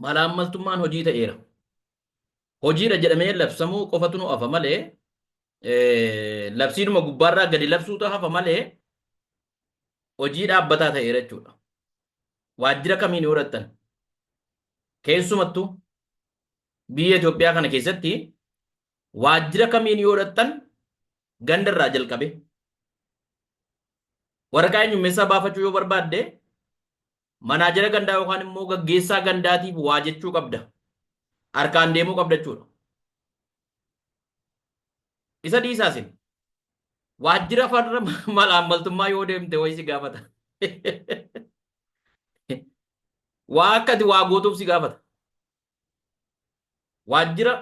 malaammaltummaan hojii ta'eera. Hojiidha jedhamee labsamuu qofatu nu hafa malee labsiidhuma gubbaarraa gadi labsuutu hafa malee hojii dhaabbataa ta'eera jechuudha. Waajjira kamiin yoo dhaqxan keessumattuu biyya Itoophiyaa kana keessatti waajjira kamiin yoo dhaqxan ganda irraa jalqabee waraqaa eenyummeessaa baafachuu yoo barbaadde manaajera gandaa yookaan immoo gaggeessaa gandaatiif waa jechuu qabda. Harkaan deemuu qabda jechuudha. Isa dhiisaasin waajjira farra malaammaltummaa yoo deemte wayii si gaafata. Waa akkati waa gootuuf si gaafata. waajjira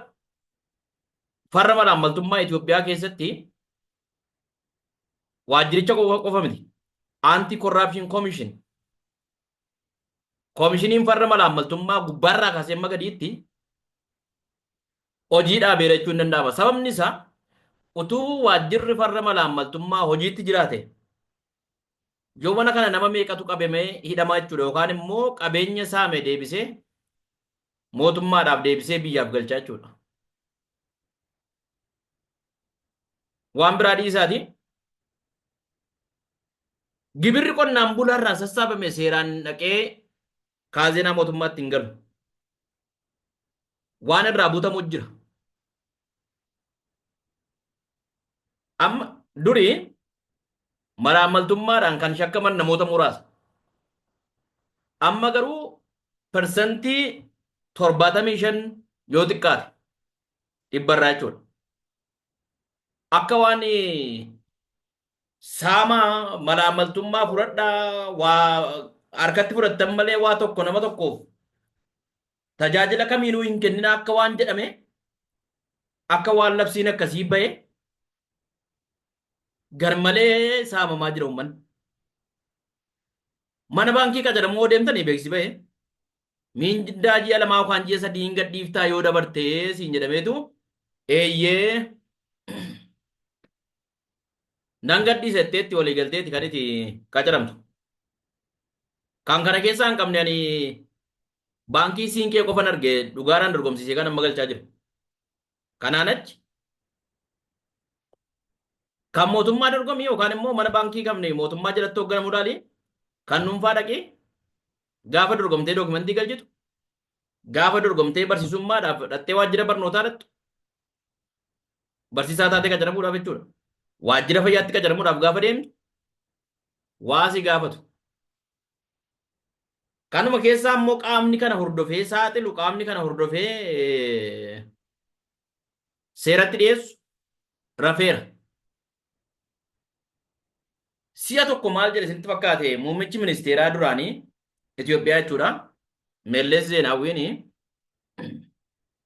farra malaammaltummaa Itoophiyaa keessatti waajjiricha qofa qofa miti. Anti Corruption Commission koomishiniin farra malaammaltummaa gubbaarraa kaasee amma gadiitti hojii dhaabeera jechuun ni danda'ama. Sababni isaa utuu waajjirri farra malaammaltummaa hojiitti jiraate Yoo mana kana nama meeqatu qabame hidhamaa jechuudha yookaan immoo qabeenya saame deebisee mootummaadhaaf deebisee biyyaaf galchaa jechuudha. Waan biraa dhiisaati. Gibirri qonnaan bulaarraa sassaabame seeraan dhaqee kaazinaa mootummaatti hin galu. waan irraa butamu jira. Amma duri malaammaltummaadhaan kan shakkaman namoota muraasa. Amma garuu parsantii torbaatamii shan yoo xiqqaate dhibbarraa jechuudha. Akka waan saamaa malaammaltummaa fudhadhaa waa harkatti fudhattan malee waa tokko nama tokkoof tajaajila kamiinuu hin kennina akka waan jedhame akka waan labsiin akkasii ba'e garmalee saamamaa jira uummanni. Mana baankii qaxaramu yoo deemtanii beeksisi ba'e miindaa ji'a lamaa yookaan ji'a sadii hin gadhiiftaa yoo dabartee siin jedhameetu eeyyee Nan gadhiisa jetteetti walii galteeti kan itti qacaramtu. Kan kana keessaa hin qabne ani baankii siinqee qofan arge dhugaaraan dorgomsiisee kan amma galchaa jiru. Kanaan achi kan mootummaa dorgomii yookaan immoo mana baankii qabne mootummaa jalatti hoogganamu dhaali kan dhuunfaa dhaqii gaafa dorgomtee dookumentii galchitu gaafa dorgomtee barsiisummaadhaaf dhattee waajjira barnootaa dhattu barsiisaa taatee qacaramuudhaaf jechuudha. Waajjira fayyaatti qacaramuudhaaf gaafa deemtu waa si gaafatu. Kanuma keessaa immoo qaamni kana hordofee saaxilu qaamni kana hordofee eh, seeratti dhiyeessu rafeera. Si'a tokko maal jedhe isinitti fakkaate muummichi ministeeraa duraanii Itoophiyaa jechuudha. Mellees Zeenaawwiin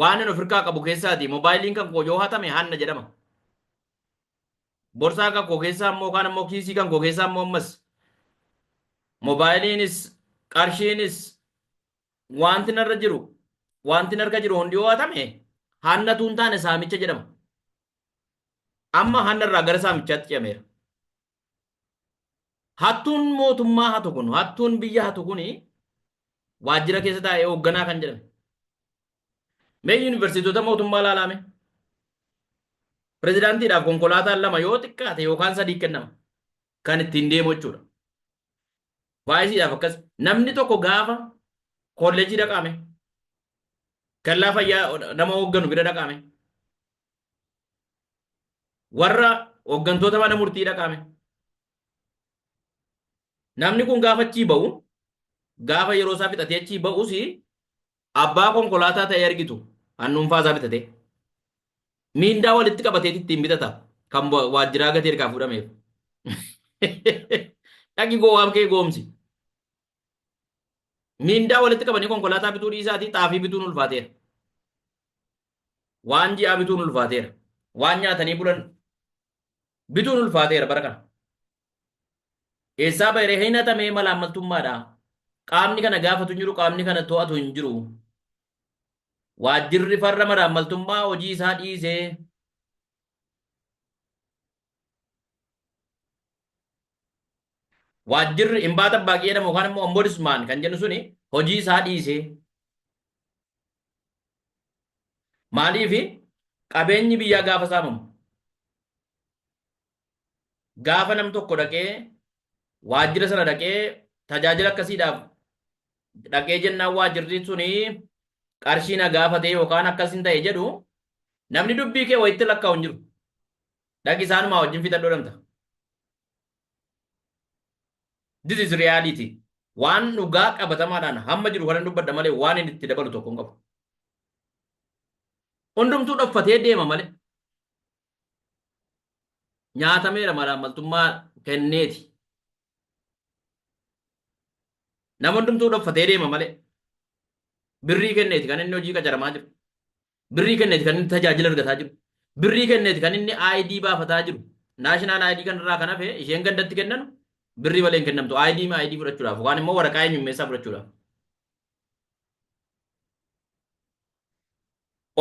Waanan ofirkaa qabu keessaati moobaayiliin kan koo yoo hatame hanna jedhama. Borsaa kan koo keessaa immoo kaan immoo kiisii kan koo keessaa immoo ammas moobaayiliinis qarshiinis wanti narra jiru wanti narka jiru hundi yoo hatame hanna tuun taane saamicha jedhama. Amma hanna irraa gara saamichaatti ce'ameera. Hattuun mootummaa hatu kun, hattuun biyya hatu kun waajjira keessa taa'ee hoogganaa kan jedhame. Mee yuunivarsiitota mootummaa ilaalaame. Pirezidaantiidhaaf konkolaataan lama yoo xiqqaate yookaan sadii kennama. Kan ittiin deemu jechuudha. Vaayisiidhaaf akkas. Namni tokko gaafa kolleejii dhaqaame. Kellaa fayyaa nama hoogganu bira dhaqaame. Warra hooggantoota mana murtii dhaqaame. Namni kun gaafa achii ba'u gaafa yeroo isaa fixatee achii ba'us abbaa konkolaataa ta'ee argitu kan dhuunfaa isaa bitatee. Miindaa walitti qabatee ittiin bitata kan wa- waajjiraa gatii ergaa fuudhameef. Dhaqi gowwaam kee goomsi. Miindaa walitti qabanii konkolaataa bituu dhiisaatii xaafii bituun ulfaateera. Waan ji'aa bituun ulfaateera. Waan nyaatanii bulan bituun ulfaateera bara kana. Eessaa bahee hin hatamee malaammaltummaadha. Qaamni kana gaafatu hin jiru, qaamni kana to'atu hin jiru. Waajjirri farra malaammaltummaa hojii isaa dhiisee waajjirri imbaata baaqii jedhamu yookaan immoo ombudsman kan jennu suni hojii isaa dhiisee Maaliif qabeenyi biyyaa gaafa saamamu gaafa nam tokko dhaqee waajjira sana dhaqee tajaajila akkasiidhaaf dhaqee jennaan waajjirri suni qarshii na gaafatee yookaan akkasiin ta'e jedhu namni dubbii kee wayitti lakkaa'u hin jiru. Dhaqi isaanumaa wajjin fixadhu jedhamta. This is reality. Waan dhugaa qabatamaadhaan hamma jiru kanan dubbadha malee waan inni itti dabalu tokko hin qabu. Hundumtuu dhoffatee deema malee. Nyaatameera malaammaltummaa kenneeti. Nama hundumtuu dhoffatee deema malee. Birrii kenneeti kan inni hojii qacaramaa jiru. Birrii kenneeti kan inni tajaajila argataa jiru. Birrii kenneeti kan inni ID baafataa jiru. National ID kan irraa kan hafe isheen gandatti kennanu birrii malee hin kennamtu. ID ma ID fudhachuudhaaf yookaan immoo waraqaa eenyummeessaa fudhachuudhaaf.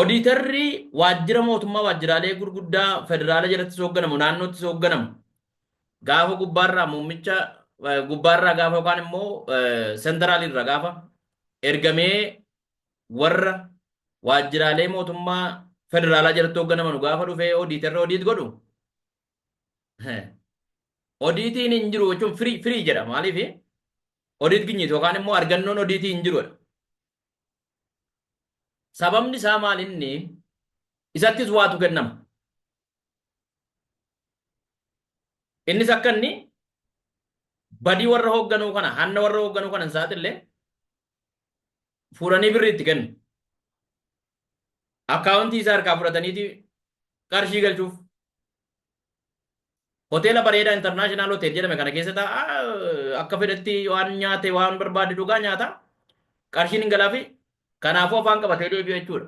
Odiitarri waajjira mootummaa waajjiraalee gurguddaa federaala jalatti hoogganamu naannootti hoogganamu gaafa gubbaarraa muummicha eh, gubbaarraa gaafa yookaan immoo senteraalirraa gaafa ergamee warra waajjiraalee mootummaa federaalaa jalatti hoogganamanu gaafa dhufee odiitarra odiit godhu odiitiin hin jiru jechuun firii firii jedha maaliif odiit ginyiiti yookaan immoo argannoon odiitii hin jirudha. Sababni isaa maal inni isattis waatu kennama. Innis akka inni badii warra hoogganuu kana hanna warra hoogganuu kana hin saaxille fuudhanii birri itti kennu. Akkaawuntii isaa harkaa fudhataniiti qarshii galchuuf. Hoteela bareedaa intarnaashinaal hotel jedhame kana keessa taa'aa akka fedhetti waan nyaate waan barbaade dhugaa nyaata. Qarshiin hin galaafi. Kanaafuu afaan qabatee deebi'a jechuudha.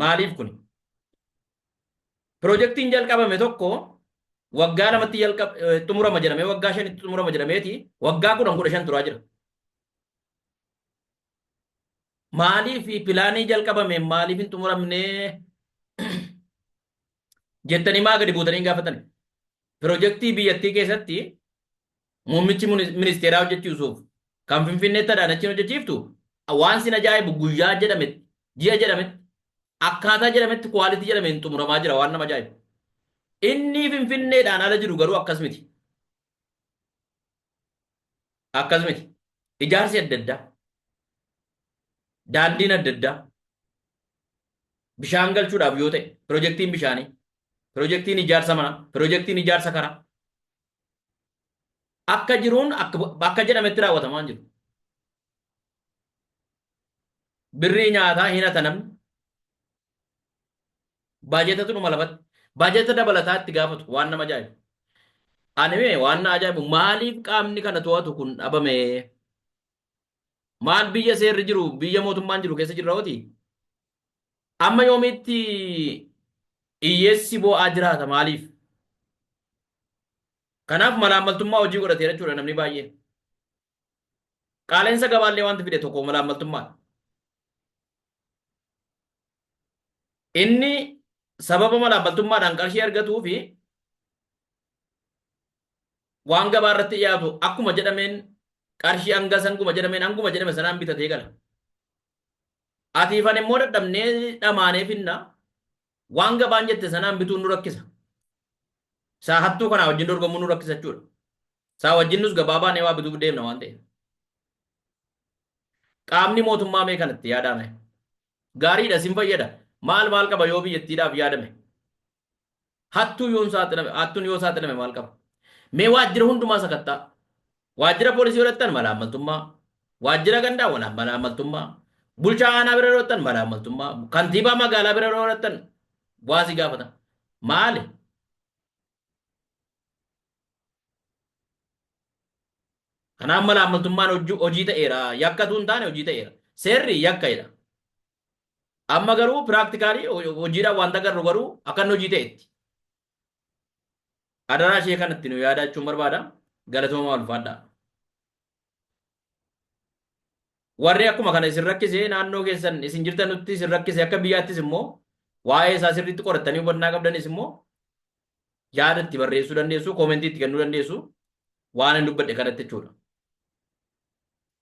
Maaliif kuni? Pirojektiin jalqabame tokko waggaa lamatti jalqab xumurama jedhamee waggaa shanitti xumurama jedhameeti waggaa kudhan kudha shan turaa jira. Maaliif pilaanii jalqabame maaliif hin xumuramne jettanii maa gadi buutanii hin gaafatani? Pirojektii biyyattii keessatti Muummichi ministeeraa hojjechiisuuf kan Finfinneetti Adaanachiin hojjechiiftu waan sin ajaa'ibu guyyaa jedhametti, ji'a jedhametti, akkaataa jedhametti quality jedhameen xumuramaa jira waan nama ajaa'ibu. Inni Finfinneedhaan ala jiru garuu akkas miti. Akkas miti. Ijaarsi adda addaa. Daandiin adda addaa. Bishaan galchuudhaaf yoo ta'e, pirojektiin bishaanii, pirojektiin ijaarsa manaa, pirojektiin ijaarsa karaa, akka jiruun akka jedhametti raawwatamaa hin jiru. Birrii nyaataa hin hata namni. Baajetatu dhuma lafatti. Baajeta dabalataa itti gaafatu waan nama ajaa'ibu. Ani mee waan na ajaa'ibu maaliif qaamni kana to'atu kun dhabamee? Maal biyya seerri jiru biyya mootummaan jiru keessa jirra hoti? Amma yoomiitti hiyyeessi boo'aa jiraata maaliif? Kanaaf malaammaltummaa hojii godhateera jechuudha namni baay'ee. Qaala'insa gabaallee wanti fide tokko malaammaltummaadha. Inni sababa malaammaltummaadhaan qarshii argatuu fi waan gabaa irratti dhiyaatu akkuma jedhameen qarshii hanga sanguma jedhameen hanguma jedhame sanaan bitatee gala. Atiifan immoo dadhabnee dhamaanee finna waan gabaan jette sanaan bituun nu rakkisa. Isaa hattuu kanaa wajjin dorgomuu nu rakkisa jechuudha. Isaa wajjin nus gabaa baanee waa bituuf deemna waan ta'eef. Qaamni mootummaa mee kanatti yaadaame. Gaariidha isin fayyada. Maal maal qaba yoo biyyattiidhaaf yaadame? Hattuu yoon saaxilame, hattuun yoo saaxilame maal qaba? Mee waajjira hundumaa sakatta'a. Waajjira poolisii yoo dhaqxan malaammaltummaa, waajjira gandaa wala malaammaltummaa, bulchaa aanaa bira yoo dhaqxan malaammaltummaa, kantiibaa magaalaa bira yoo dhaqxan waasi gaafatan. Maali? Kanaaf mala ammaltummaan hojii ta'eera. Yakka utuu hin taane hojii ta'eera. Seerri yakka jedha. Amma garuu piraaktikaalii hojiidhaan waan agarru garuu akka inni hojii ta'etti. Adaraa ishee kanatti nu yaadaa jechuun barbaada. Galatoomaa ulfaadhaa. Warri akkuma kana isin rakkise naannoo keessan isin jirtanutti isin rakkise akka biyyaattis immoo waa'ee isaa sirriitti qorattanii hubannaa qabdanis immoo yaada itti barreessuu dandeessu, koomentii itti kennuu dandeessu waan hin dubbadhe kanatti jechuudha.